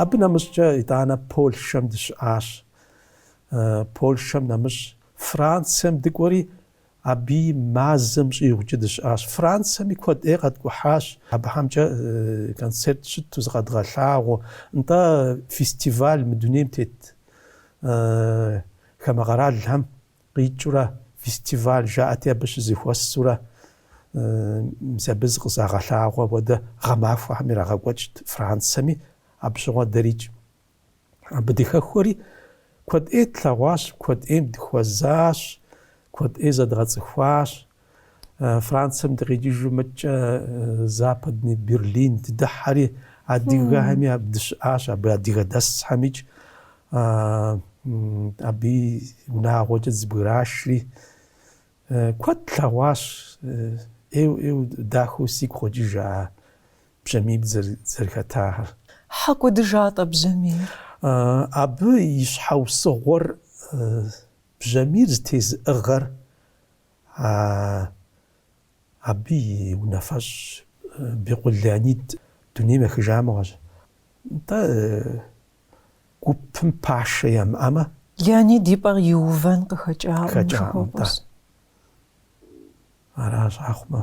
Абы нэмыщӏкӏэ итӏанэ Польшэм дыщыӏащ. Польшэм нэмыщӏ Францэм дыкӏуэри, абыи мазэм щӏигъукӏэ дыщыӏащ. Францэми куэд ӏей къэткӏухьащ. Абыхьэмкӏэ концерт щыту зыкъэдгъэлъагъуэ, нтӏэ, фестиваль мы дунейм тет хамэ къэралхэм къикӏыурэ фестиваль жаӏэти абы щызыхуэсурэ мис абы зыкъызагъэлъагъуэ апхуэдэ гъэмахуэхэм ирагъэкӏуэкӏт Францэми абы щыгъуэ дэрикӏ. Абы дыхэхуэри куэд ӏей тлъэгъуащ, куэд ӏейм дыхуэзащ, куэд ӏей зэдгъэцӏыхуащ, Францэм дыкъикӏыжу мыдэкӏэ Западный Берлин дыдыхьэри, адыгэхэми абы дыщыӏащ, абы адыгэ дэсхэмикӏ абыи унагъуэкӏэ дызэбграшри куэд тлъэгъуащ. ӏейу ӏейу дахэу сигу къокӏыж а Бжьамийм дызэрыхэтахэр. Щхьэ кӏуэдыжа-тӏэ Бжьамийр? Абы и щхьэусыгъуэр Бжьамийр зытезыӏыгъэр Абы и унафэщӏ Бекъул Леонид дунейм ехыжа мыгъуэщ. Нтӏэ, гупым пашэ ямыӏэмэ. Леонид и пӏэр иувэн къыхэкӏакъым, жыхуэпӏэщ. Аращ, ахъумэ.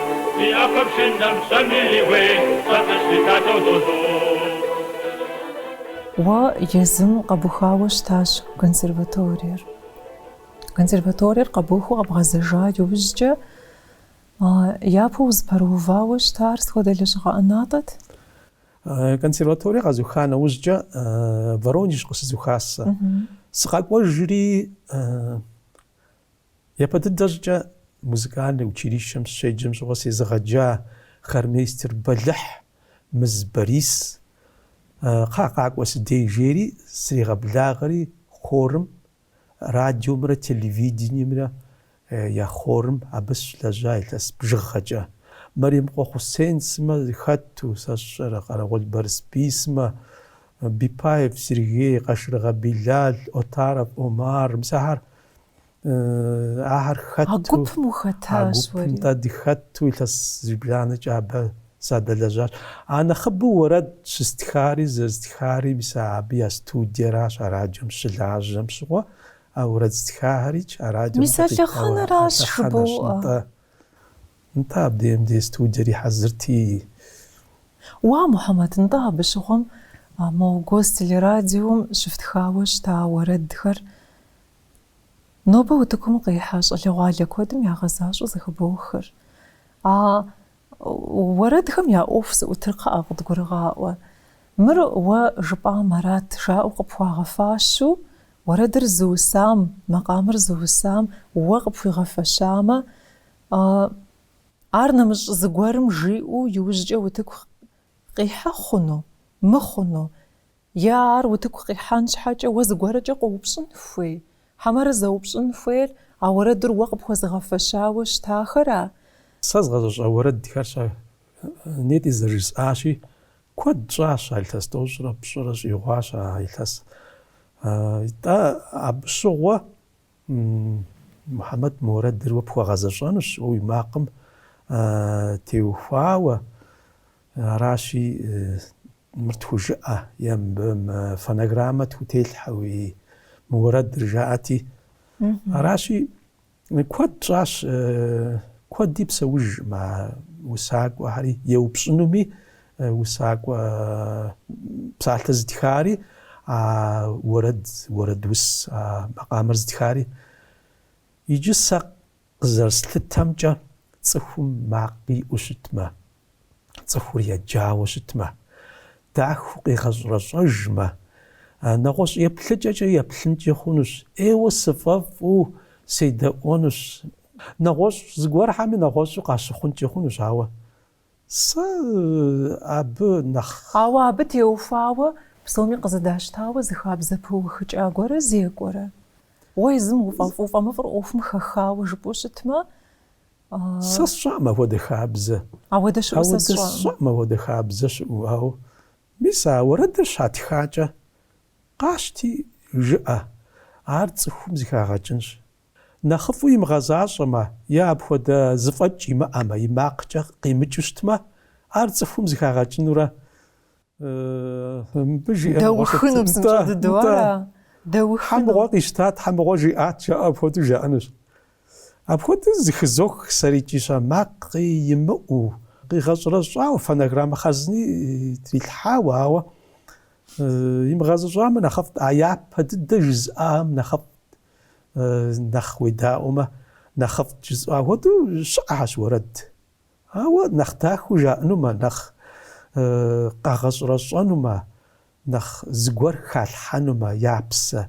Ди ӏэпэпшынэм пщэми и гуей щӏэтыщ ди Татэ Зозо. Уэ езым къэбухауэ щытащ консерваториер. Консерваториер къэбухыу къэбгъэзэжа иужькӏэ япэу узыпэрыувауэ щытар сыт хуэдэ лэжьыгъэ ӏэнатӏэт? Консерваторие къэзуха нэужькӏэ Воронеж къыщызухащ сэ. Сыкъэкӏуэжри Япэ дыдэ щӏыкӏэ музыкальнэ училищэм сыщеджэм щыгъуэ сезыгъэджа хормейстер бэлыхь Мыз Борис кхъа, къакӏуэ си дей жери сригъэблагъэри хорым, радиомрэ телевидениемрэ я хорым абы сыщылэжьа илъэс бжыгъэкӏэ. Мэремыкъуэ Хъусен сымэ хэту сэ сщӏэрэ, Къэрэгъуэл Барысбий сымэ, Беппаев Сергей, Къашыргъэ Билал, Отаров Омар, мис ахэр ахэр хэт а гупым ухэтащ уэри а гупым дыхэту илъэс зыбжанэкӏэ абы садэлэжьащ а нэхъыбэу уэрэд щыстхари зэрыстхари мис абы я студиеращ а радиом щылажьэм щыгъуэ а уэрэд стхахэри а радиом мис а лъэхъэнэращ жыбоӏэ нтӏэ абдеем ди студиер ихьэзырти уа мухьэмэд нтӏэ абы щыгъуэм а мо гостелерадиом щыфтхауэ щыта уэрэдхэр Нобэ утыкум къихьэ щӏалэгъуалэ куэдым ягъэзащӏэу зыхыбохыр. А уэрэдхэм я ӏуэху зыӏутыр кхъыӏэ, къыдгурыгъаӏуэ. Мыр уэ жыпӏам арат, жаӏэу къыпхуагъэфащэу, уэрэдыр зыусам, макъамэр зыусам уэ къыпхуигъэфэщамэ, ар нэмыщӏ зыгуэрым жиӏэу иужькӏэ утыку къихьэ хъуну, мыхъуну? Е ар утыку къихьэн щхьэкӏэ уэ зыгуэркӏэ къоупщӏын хуей? Хьэмэрэ зэупщӏын хуейр а уэрэдыр уэ къыпхуэзыгъэфэщауэ щытахэра? Сэ згъэзэщӏа уэрэдхэр щэ? Нетӏи зэрыжысӏащи, куэд щӏащ а илъэс тӏощӏрэ пщӏырэ щӏигъуащ а илъэс. Итӏэ, абы щыгъуэ Мухьэмэд мы уэрэдыр уэ пхуэгъэзэщӏэнущ, уэ уи макъым теухуауэ. Аращи, Мыр тхужыӏэ е мыбы мы фонограммэ тхутелъхьэ уи мы уэрэдыр, жаӏэти. Аращи, куэд щӏащ, куэди псэужкъым а усакӏуэхэри еупщӏынуми, усакӏуэ псалъэр зытхари, а уэрэд, уэрэдус, а макъамэр зытхари. Иджы сэ Къызэрыслъытэмкӏэ, цӏыхум макъ иӏэу щытмэ, цӏыхур еджауэ щытмэ, дахэу къигъэщӏрэщӏэжмэ, нэгъуэщӏ еплъыкӏэкӏэ еплъынкӏи хъунущ, ӏейуэ сыфӏэфӏу седэӏуэнущ. Нэгъуэщӏ зыгуэрхэми нэгъуэщӏу къащыхъункӏи хъунущ, ауэ Сэ абы нэхъ. Ауэ абы теухуауэ псоми къызэдащтауэ зы хабзэ пыухыкӏа гуэрэ зекӏуэрэ? Уэ езым уфӏэфӏ-уфӏэмыфӏыр ӏуэхум хэхауэ жыпӏэу щытмэ, а. Сэ сщӏэӏым апхуэдэ хабзэ. Апхуэдэ щыӏэу, сэ сщӏэӏым апхуэдэ хабзэ щыӏэу, ауэ мис а уэрэдыр щатхакӏэ, къащти, жыӏэ, ар цӏыхум зыхагъэкӏынщ. Нэхъыфӏу имыгъэзащӏэмэ е апхуэдэ зыфӏэкӏ имыӏэмэ, и макъкӏэ къимыкӏыу щытмэ, ар цӏыхум зыхагъэкӏынурэ. Мыбы жиӏэ мыгъуэ щытт. Дэухыну псынщӏэ дыдэу ара? Дэухыну. Щхьэ мыгъуэ къищтат, щхьэ мыгъуэ жиӏат, жаӏэу апхуэдэу жаӏэнущ. Апхуэдэу зыхызох сэрикӏища макъи имыӏэу, къигъэщӏрэщӏауэ, фонограммэ хъарзыни трилъхьауэ, ауэ имыгъэзыщӏамэ нэхъыфӏт, а япэ дыдэ жызыӏахэм нэхъыфӏт. нэхъ уедаӏуэмэ, нэхъыфӏт жысӏа хуэдэу щыӏэщ уэрэд. Ауэ нэхъ дахэу жаӏэнумэ, нэхъ къагъэщӏэрэщӏэнумэ, нэхъ зыгуэр халъхьэнумэ, я псэ,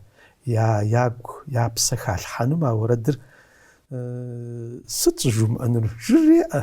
я ягу, я псэ халъхьэнумэ а уэрэдыр, сыт щӏыжумыӏэнур? Жреӏэ,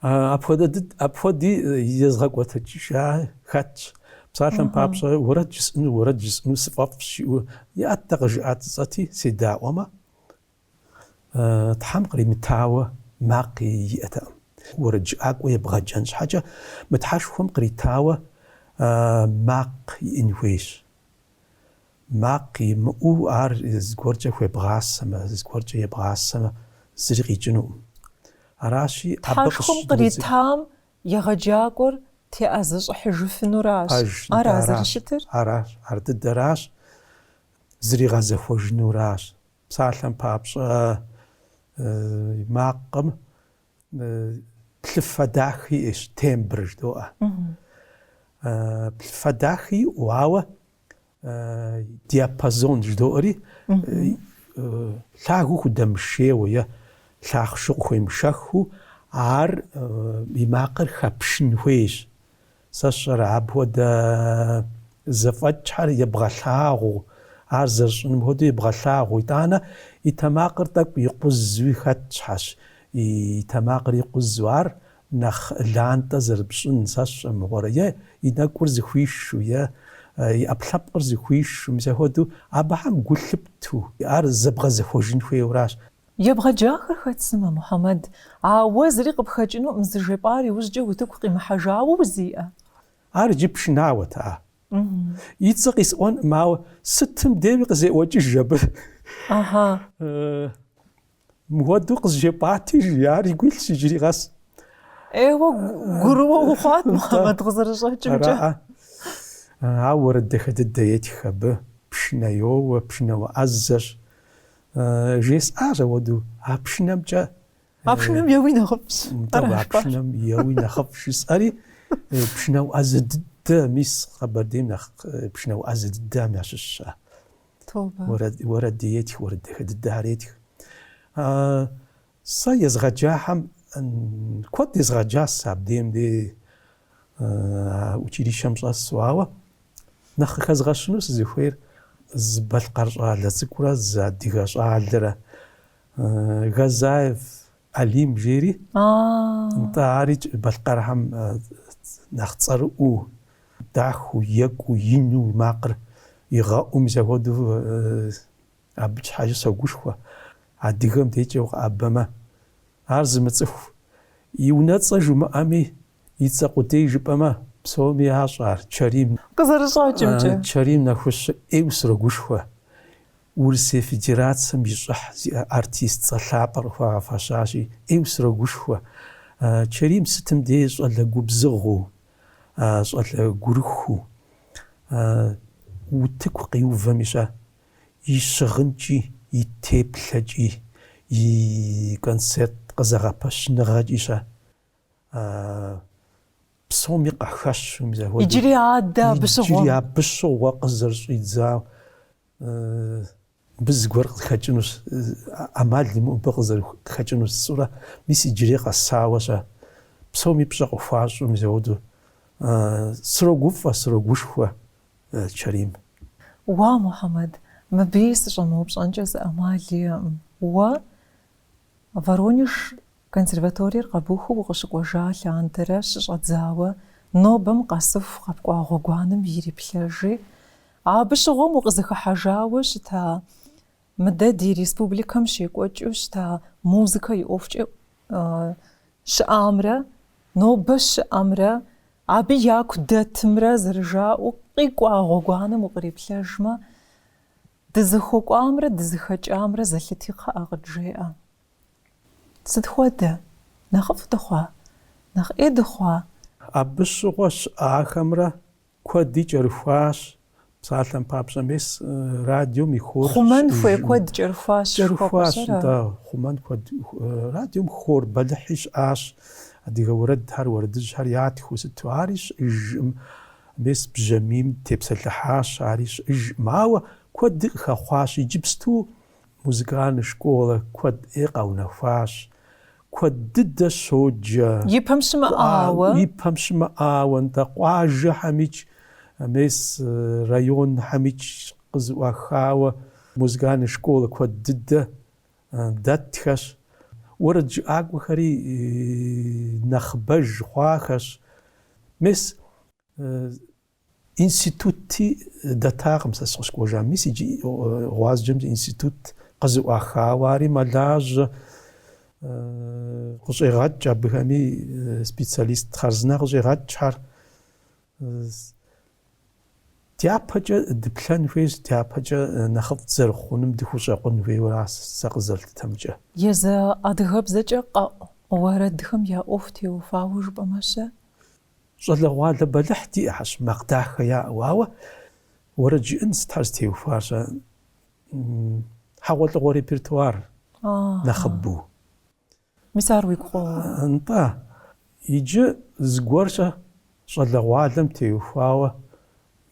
Апхуэдэ дыд, апхуэди езгъэкӏуэтыкӏыжа хэтщ. Псалъэм папщӏэ, уэрэд жысӏэну, уэрэд жысӏэну сыфӏэфӏщ, жиӏэу иӏэт дэ къыжыӏа цӏыцӏэти, седаӏуэмэ, Тхьэм къримытауэ макъ иӏэтэкъым. Уэрэджыӏакӏуэ ебгъэджэн щхьэкӏэ, мы Тхьэшхуэм къритауэ макъ иӏэн хуейщ. Макъ имыӏэу ар зыгуэркӏэ хуебгъасэмэ, зыгуэркӏэ ебгъасэмэ, зыри къикӏынукъым. Аращи, абы къыщ. Тхьэшхуэм къритам егъэджакӏуэр теӏэзэщӏыхьыжыфынуращ. Пэж, ара зэрыщытыр? Аращ. Ар дыдэращ, зригъэзэхуэжынуращ. Псалъэм папщӏэ, макъым плъыфэ дахи иӏэщ, тембр жыдоӏэ. Плъыфэ дахи иӏэу, ауэ диапазон жыдоӏэри лъагэу худэмышейуэ е лъахъшэу къыхуемышэхыу ар и макъыр хэпшын хуейщ. Сэ сщӏэрэ, апхуэдэ зэфӏэкӏхэр ебгъэлъагъуу, ар зэрищӏыным хуэдэу ебгъэлъагъуу, итӏанэ и тэмакъыр тӏэкӏу икъузуи хэтхэщ, и тэмакъыр икъузу ар нэхъ лантӏэ зэрыпщӏын, сэ сщӏэ мыгъуэрэ, е и нэкӏур зыхуишу, е и ӏэпкълъэпкъыр зыхуишу, мис ахуэдэу абыхэм гу лъыпту, ар зэбгъэзэхуэжын хуейуэращ. Ебгъэджахэр хэт сымэ, Мухьэмэд, а уэ зыри къыпхэкӏынуӏым, зыжепӏар иужькӏэ утыку къимыхьэжауэ узиӏэ? Ар иджы пшынауэт, а? И цӏэ къисӏуэнкъым, ауэ сытым деуи къызеӏуэкӏыж абы. Ыхьы. Мыхуэдэу къызжепӏати, жи, ар игу илъщ иджыри къэс. Ейуэ, гурыуэ ухъуат, Мухьэмэд, къызэрыщӏэкӏымкӏэ. Ара-а. Ауэ уэрэд дахэ дыдэ етх абы, пшынэ йоуэ, пшынауэ ӏэзэщ. Жесӏащ ахуэдэу, а пшынэмкӏэ. А пшынэм еуи нэхъыфӏщ. Тӏэу, а пшынэм еуи нэхъыфӏ жысӏэри, пшынауэ ӏэзэ дыдэ, мис Къэбэрдейм нэхъ пшынауэ ӏэзэ дыдэхэм ящыщщ ар. Тобэ. Уэрэд, уэрэд етх, уэрэд дахэ дыдэхэр етх. Сэ езгъэджахэм куэд езгъэджащ сэ абдейм де училищэм щӏэсу, ауэ нэхъ къыхэзгъэщыну сызыхуейр зы балъкъэр щӏалэ цӏыкӏурэ зы адыгэ щӏалэрэ Газаев Алим жери, нтӏэ арикӏ балъкъэрхэм нэхъ цӏэрыӏуу, дахэу, екӏуу, ину и макъыр игъэӏуу, мис ахуэдэу Абы щхьэкӏэ согушхуэ, адыгэм декӏэ укъеӏэбэмэ, ар зымыцӏыху, и унэцӏэ жумыӏэми, и цӏэ къудей жыпӏэмэ, псоми ящӏэ ар, Чэрим. Къызэрыщӏэкӏымкӏэ. Чэрим Нэхущ ӏейуэ срогушхуэ, Урысей Федерацэм и щӏыхь зиӏэ артист цӏэ лъапӏэр къыхуагъэфэщащи, ӏейуэ срогушхуэ. Чэрим сытым дей щӏалэ губзыгъэу, щӏалэ гурыхуу, утыку къиувэм ищӏэ. и щыгъынкӏи, и теплъэкӏи, и концерт къызэгъэпэщыныгъэкӏи щэ псоми къахэщ, уи мызэ хуэдэу. Иджыри адэ абы щыгъуэ. Иджыри абы щыгъуэ къызэрыщӏидзау мыбы зыгуэр къыхэкӏынущ, ӏэмал имыӏэу мыбы къызэрыхэкӏынур сщӏурэ, мис иджыри къэсауэ щэ псоми пщӏэ къыхуащӏу, мис апхуэдэу срогуфӏэ, срогушхуэ. Чэрим. Уа, Мухьэмэд, мыбыи сыщӏэмыупщӏэнкӏэ зы ӏэмал иӏэкъым. Уэ Воронеж консерваториер къэбухыу укъыщыкӏуэжа лъандэрэ щыщӏэдзауэ, нобэм къэсыху къэпкӏуа гъуэгуанэм ириплъэжи, абы щыгъуэм укъызыхыхьэжауэ щыта Мыдэ ди республикэм щекӏуэкӏыу щыта музыкэ и ӏуэхукӏэ щыӏамрэ нобэ щыӏэмрэ абы яку дэтымрэ зэрыжаӏэу къикӏуа гъуэгуанэм укъриплъэжмэ, дызыхуэкӏуамрэ дызыхэкӏамрэ зэлъыти кхъыӏэ къыджеӏэ. Сыт хуэдэ? Нэхъыфӏ дыхъуа? Нэхъ ӏей дыхъуа? Абы щыгъуэ щыӏахэмрэ Куэди кӏэрыхуащ. Псалъэм папщӏэ, мес радиом и хор. Хъумэн хуей куэд кӏэрыхуащ. Кӏэрыхуащ, да, хъумэн куэд. Радиом хор бэлыхьи щыӏащ, адыгэ уэрэдхэр, уэрэдыжьхэр ятхыу сыту. Ари щыӏэжкъым. Мес бжьамийм тепсэлъыхьащ, ари щыӏэжкъым. Ауэ куэди къыхэхъуащ. Иджыпсту Музыкальный школэ куэд ӏейуэ къэунэхуащ. Куэд дыдэ щоджэ. И пэм щымыӏауэ. И пэм щымыӏауэ нтӏэ, къуажэхьэмикӏ, мес районхьэмикӏ къызыӏуахауэ музыкальный школэ куэд дыдэ дэтхэщ. Уэрэджыӏакӏуэхэри нэхъыбэж хъуахэщ. Мес Институтти дэтакъым сэ сыкъыщыкӏуэжам, мис иджы Гъуазджэмкӏэ институт къызыӏуахауэ, ари мэлажьэ, къыщӏегъэкӏ абыхэми специалист хъарзынэ къыщӏегъэкӏхэр. Дяпэкӏэ дыплъэн хуейщ, дяпэкӏэ нэхъыфӏ зэрыхъунум дыхущӏэкъун хуейуэ аращ сэ къызэрыслъытэмкӏэ. Езы адыгэбзэкӏэ къэӏу уэрэдхэм я ӏуэху теухуауэ жыпӏэмэ-щэ? Щӏалэгъуалэ бэлыхь диӏэхьэщ, макъ дахэ яӏэу, ауэ уэрэд жыӏэн сытхьэр зытеухуар щӏэ? Хьэгъуэлӏыгъуэ репертуар нэхъыбэу. Мис ар уигу къоуэ. Нтӏэ. Иджы зыгуэрщӏэ щӏалэгъуалэм теухуауэ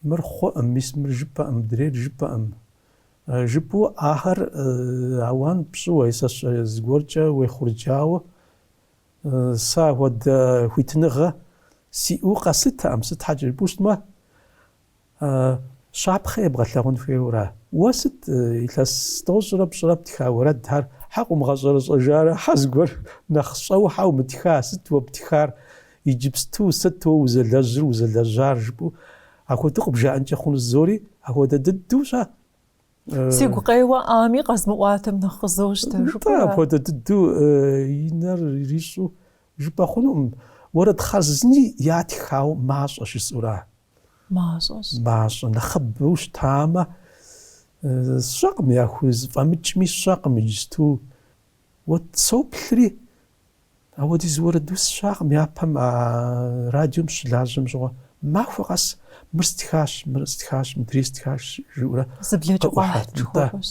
мыр хъуӏым, мис мыр жыпӏэӏым, мыдрейр жыпӏэӏым жыпӏэу ахэр ауан пщӏыуэ, е сэ сщӏэ, зыгуэркӏэ уехъурджауэ Сэ апхуэдэ хуитыныгъэ сиӏэу къэсытэкъым, сыт щхьэкӏэ жыпӏэу щытмэ, щапхъэ ебгъэлъэгъун хуейуэра? Уэ сыт илъэс тӏощӏрэ пщӏырэ птха уэрэдхэр? Хьэ къыумыгъэщӏэрэщӏэжарэ хьэ зыгуэр нэхъ щӏэуэ хьэ умытха? Сыт уэ птхар? Иджыпсту сыт уэ узэлэжьыр, узэлэжьар? жыпӏэу апхуэдэу къыбжаӏэнкӏэ хъунущ зори апхуэдэ дыдэу щӏа? Сигу къеуэ ӏами къэзмыӏуатэм нэхъ къызощтэ жыпӏэу. Нтӏэ, апхуэдэ дыдэу и нэр ирищӏу жыпӏэ хъунукъым. Уэрэд хъарзыни ятхауэ мащӏэ жысӏэура? Мащӏэщ. Мащӏэ, нэхъыбэу щытамэ, сщӏэкъым, яхузэфӏэмыкӏми сщӏэкъым иджысту. Уэ соплъри, апхуэдиз уэрэдус, сщӏэкъым, япэм а радиом щылажьэм щыгъуэ. Махуэ къэс мыр стхащ, мыр стхащ, мыдрей стхащ жиӏэурэ. Зы блэкӏыгъуэ къыӏухьэрт, нтӏэ. жыхуэфӏэщ.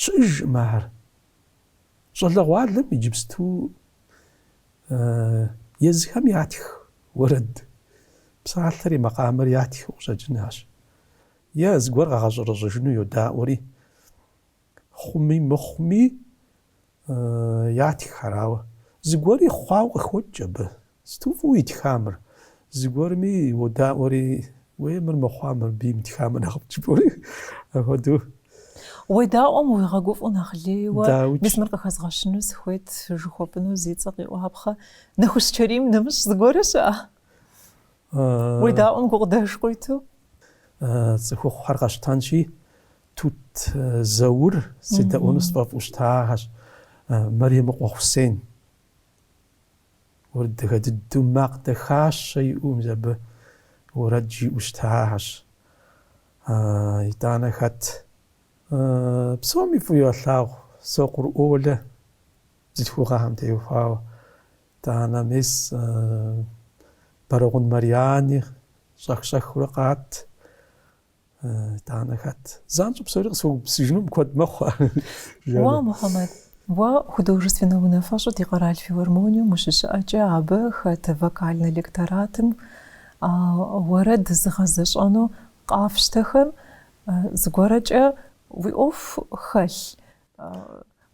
Щыӏэжкъым ахэр. Щӏалэгъуалэм иджыпсту езыхэм ятх уэрэд, псалъэри, макъамэри ятхыу къыщӏэкӏынащ. Е зыгуэр къагъэщӏэрэщӏэжыну йодаӏуэри. Хъуми мыхъуми, ятххэр, ауэ зыгуэри хъуауэ къыхокӏ абы. Сыту фӏыуэ итха мыр. Зыгуэрми уодаӏуэри, уей, мыр мыхъуа, мыр абы имытхамэ нэхъыфӏт жыпӏэури, апхуэдэу. Уедаӏуэм уигъэгуфӏэу нэхъ лейуэ, мис мыр къыхэзгъэщыну сыхуейт, жыхуэпӏэну зи цӏэ къиӏуапхъэ. Нэхущ Чэрийм нэмыщӏ зыгуэрэ щыӏэ? Уедаӏуэм гукъыдэж къуиту. Цӏыхухъухэр къэсщтэнщи, Тут Заур седэӏуэну сфӏэфӏу щытахьэщ. Мэремыкъуэ Хъусен. Ар адыгэ дыдэу макъ дахащэ иӏэу мис абы уэрэд жиӏэу щытахьэщ. Итӏанэ хэт? Псоми фӏыуэ ялъагъу Сокъур Олэ бзылъхугъэхэм теухуауэ. Итӏанэ мис Бэрэгъун Марьяни щӏэх-щӏэхыурэ къат. Итӏанэ хэт? Занщӏэу псори къысхуэгупсыжынум куэд мэхъуэ. Уа, Мухьэмэд, уэ художественнэ унафэщӏу ди къэрал филармонием ущыщыӏэкӏэ абы хэт вокальнэ электоратым уэрэд зыгъэзэщӏэну къафщтэхэм зыгуэркӏэ уи ӏуэху хэлъ?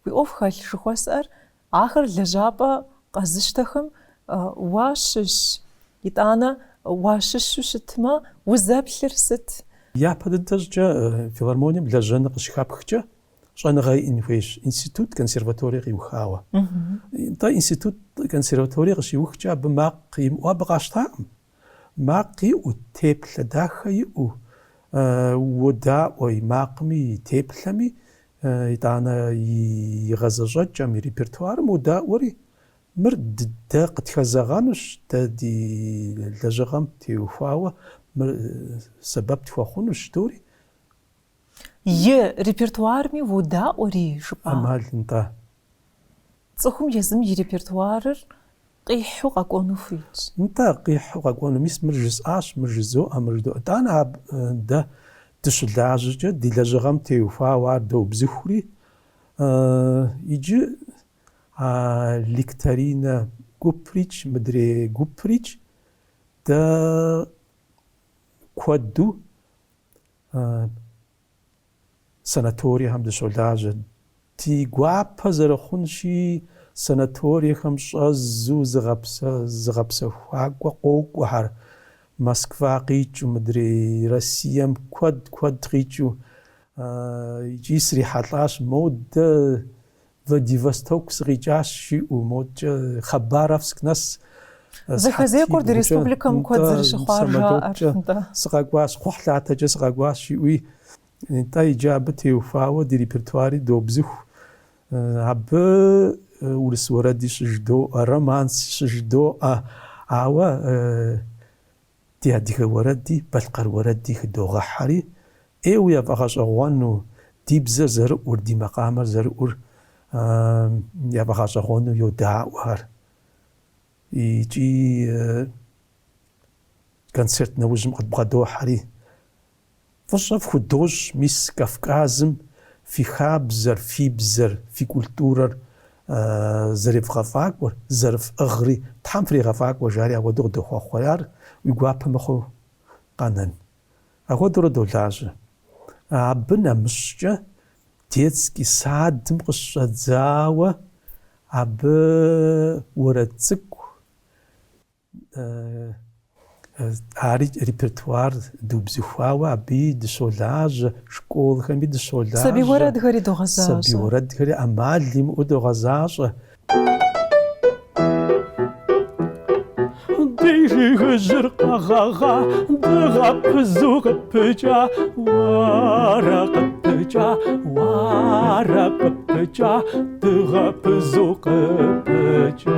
Уи ӏуэху хэлъ жыхуэсӏэр Ахэр лэжьапӏэ къэзыщтэхэм уащыщ. Итӏанэ уащыщу щытмэ, узэплъыр сыт? Япэ дыдэ щӏыкӏэ филармонием лэжьэныр къыщыхэпхкӏэ, щӏэныгъэ иӏэн хуейщ, институт, консерваторие къиухауэ. Нтӏэ, институт, консерваторие къыщиухкӏэ абы макъ имыӏэу абы къащтакъым. Макъ иӏэу, теплъэ дахэ иӏэу, уодаӏуэ и макъми, и теплъэми, итӏанэ и гъэзэщӏэкӏэм, и репертуарым уодаӏуэри, мыр дэ къытхэзэгъэнущ, дэ ди лэжьыгъэм теухуауэ мыр сэбэп тхуэхъунущ жыдоӏэри. И репертуарми уодаӏуэри, жыпӏа? ӏэмал нтӏэ. Цӏыхум езым и репертуарыр къихьу къэкӏуэну хуейщ. Нтӏэ, къихьу къэкӏуэну. Мис мыр жысӏащ, мыр жызоӏэ, мыр жыдоӏэ. Итӏанэ абы дэ дыщылажьэкӏэ ди лэжьыгъэм теухуауэ ар доубзыхури, иджы а лекторийнэ гуприкӏ, мыдрей гуприкӏ дэ куэду санаториехэм дыщолажьэ. Ди гуапэ зэрыхъунщи, санаториехэм щӏэзу зыгъэпс зыгъэпсэхуакӏуэ къокӏуэхэр, Москва къикӏыу, мыдрей Россием куэд-куэд къикӏыу, икӏи срихьэлӏащ модэ Владивосток сыкъикӏащ, жиӏэу модкӏэ Хабаровск нэс. Самолеткӏэ сыкъэкӏуащ, кхъухьлъатэкӏэ сыкъэкӏуащ, жиӏэуи, нтӏэ, иджы абы теухуауэ ди репертуари доубзыху. Абы урыс уэрэди щыжыдоӏэ, романс щыжыдоӏэ, ауэ ди адыгэ уэрэди балъкъэр уэрэди хыдогъэхьэри, ӏейуэ яфӏэгъэщӏэгъуэну, ди бзэр зэрыӏур, ди макъамэр зэрыӏур яфӏэгъэщӏэгъуэну йодаӏуэхэр. Икӏи концерт нэужьым къыдбгъэдохьэри, Фӏыщӏэ фхудощӏ, мис, Кавказым фи хабзэр, фи бзэр, фи культурэр зэревгъэфӏакӏуэр, зэрыфӏыгъри, Тхьэм фригъэфӏакӏуэ, жари апхуэдэу къыдохъуэхъухэр, ар уи гуапэ мыхъуу къэнэн. Апхуэдэурэ долажьэ. Абы нэмыщӏкӏэ детский садым къыщыщӏэдзауэ абы уэрэд цӏыкӏу, Ари репертуар дыубзыхуауэ абыи дыщолажьэ, школхэми дыщолажьэ. Сабий уэрэдхэри догъэзащӏэ. Сабий уэрэдхэри ӏэмал имыӏэу догъэзащӏэ. Ди жыгыжьыр къэгъэгъа, дыгъэпызу къыпыкӏа, уарэ къыпыкӏа, уарэ къыпыкӏа, дыгъэпызу къыпыкӏа.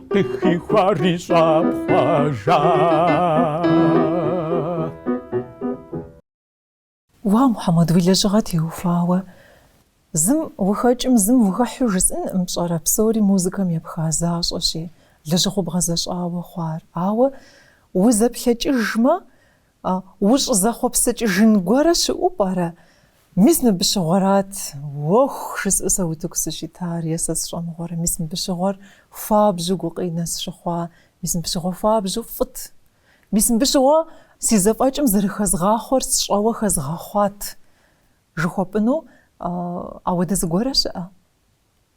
Къыхихуари щӏэпхъуэжа. Уа, Мухьэмэд, уи лэжьыгъэ теухуауэ зым ухэкӏым, зым ухыхьэу жысӏынкъым пщӏэрэ, псори музыкэм епха защӏэщи, лэжьыгъэу бгъэзэщӏауэ хъуар. Ауэ узэплъэкӏыжмэ, Ущӏызэхъуэпсыкӏыжын гуэрэ щыӏэу пӏэрэ? Мис мыбы щыгъуэрат уэху жысӏэу сэ утыку сыщитар е сэ сщӏэмыгъуэрэ? Мис мыбы щыгъуэр хуабжьу гукъинэ сщыхъуа? Мис мыбы щыгъуэ хуабжьу фӏыт? Мис мыбы щыгъуэ си зэфӏэкӏым зэрыхэзгъахъуэр сщӏэуэ хэзгъэхъуат? жыхуэпӏыну ауэдэ зыгуэрэ щыӏэ?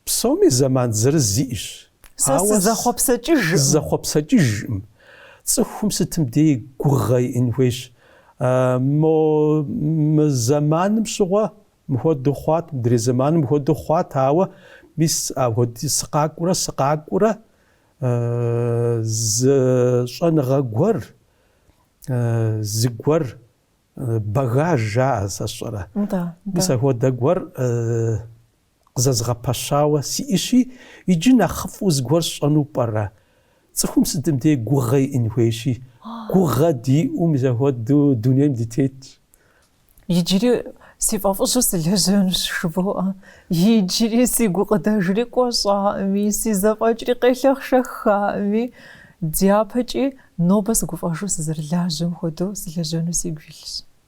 Псоми зэман зырыз иӏэщ, Сэ ауэ сызэхъуэпсэкӏыжкъым. сызэхъуэпсэкӏыжкъым. Цӏыхум сытым дей гугъэ иӏын хуейщ. Мо мы зэманым щыгъуэ мыхуэдэу хъуат, мыдрей зэманым мыхуэдэу хъуат, ауэ мис апхуэдэу сыкъакӏуэурэ сыкъакӏуэурэ зы щӏэныгъэ гуэр, зыгуэр багаж жаӏэ, сэ сщӏэрэ. Мис апхуэдэ гуэр къызэзгъэпэщауэ сиӏыщи, иджы нэхъыфӏу зыгуэр сщӏэну пӏэрэ? Цӏыхум сытым дей гугъэ иӏын хуейщи, гугъэ диӏэу мис апхуэдэу дунейм дытетщ. Иджыри си фӏэфӏыжьу сылэжьэнущ, жыбоӏэ. Иджыри си гукъыдэжри кӏуэщӏакъыми, си зэфӏэкӏри къелъэхъшэхакъыми, дяпэкӏи нобэ сыгуфӏэжу сызэрылажьэм хуэдэу сылэжьэну сигу илъщ.